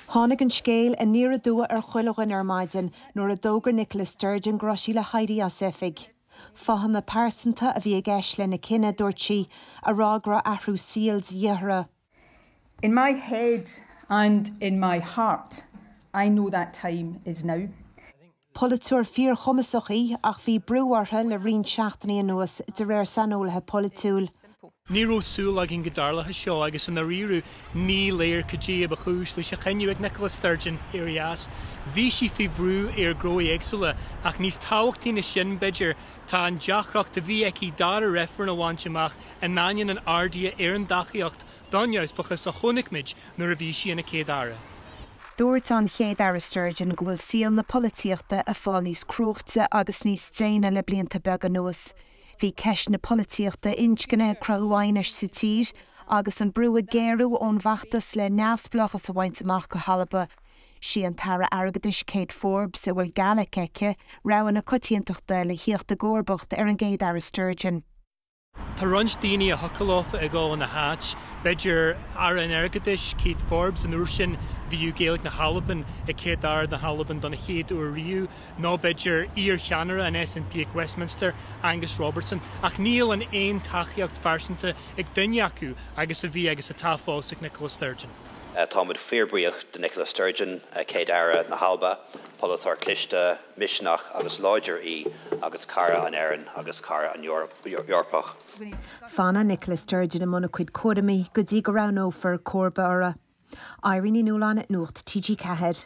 Tháinig an scéal aniar aduaidh ar chuile dhuine ar maidin nuair a d'fhógair Nicola Sturgeon go raibh sí le héirí as oifig. Fáthanna pearsanta a bhí i gceist lena cinneadh, dúirt sí, a rá go raibh athrú seoil de dhíth uirthi. In my head and in my heart, I know that time is now. Polaiteoir fíorchumasach í ach bhí brú uirthi le roinnt seachtainí anuas, de réir saineolaithe polaitiúil. Ní raibh súil againn go dtarlódh seo agus i ndáiríre ní léir cad é a ba chúis leis an chinneadh ag Nicola Sturgeon ar a dheas. Bhí sí faoi bhrú ar chúiseanna éagsúla ach níos tábhachtaí na sin, b'fhéidir, tá an deacracht a bhí aici dara reifreann a bhaint amach in ainneoin an ardaithe ar an dtacaíocht don neamhspleáchas a chonaic muid nuair a bhí sí ina Céad-Aire. Dúirt an Chéad-Aire Sturgeon go bhfuil saol na polaitíochta ag fáil níos crua agus níos déine le blianta beaga anuas. Bhí ceist na polaitíochta inscne ag cruthú aighnis sa tír agus an brú ag géarú ón bhfeachtas le neamhspleáchas a bhaint amach go hAlba. Sí an tAire Airgeadais Kate Forbes, a bhfuil Gaeilge aici, rogha na coitiantachta le theacht i gcomharbacht ar an gCéad-Aire Sturgeon. Tá roinnt daoine a thiocfadh leofa a ghabháil ina háit, b'fhéidir Aire an Airgeadais, Kate Forbes, an uair sin bheadh Gaeilge na hAlban ag Céad-Aire na hAlban don chéad uair riamh, nó b'fhéidir iarcheannaire an SNP ag Westminster, Angus Robertson. Ach níl an aon tacaíocht phearsanta ag duine acu agus a bhí agus atá fós ag Nicola Sturgeon. Táimid fíorbhuíoch de Nicola Sturgeon, Céad-Aire na hAlban, polaiteoir cliste, misniúil agus láidir í agus cara na hÉireann agus cara na hEorpa. Fanfaidh Nicola Sturgeon i mbun a cuid cúramaí go dtí go roghnófar comharba uirthi. Irene Ní Nualláin, Nuacht TG4.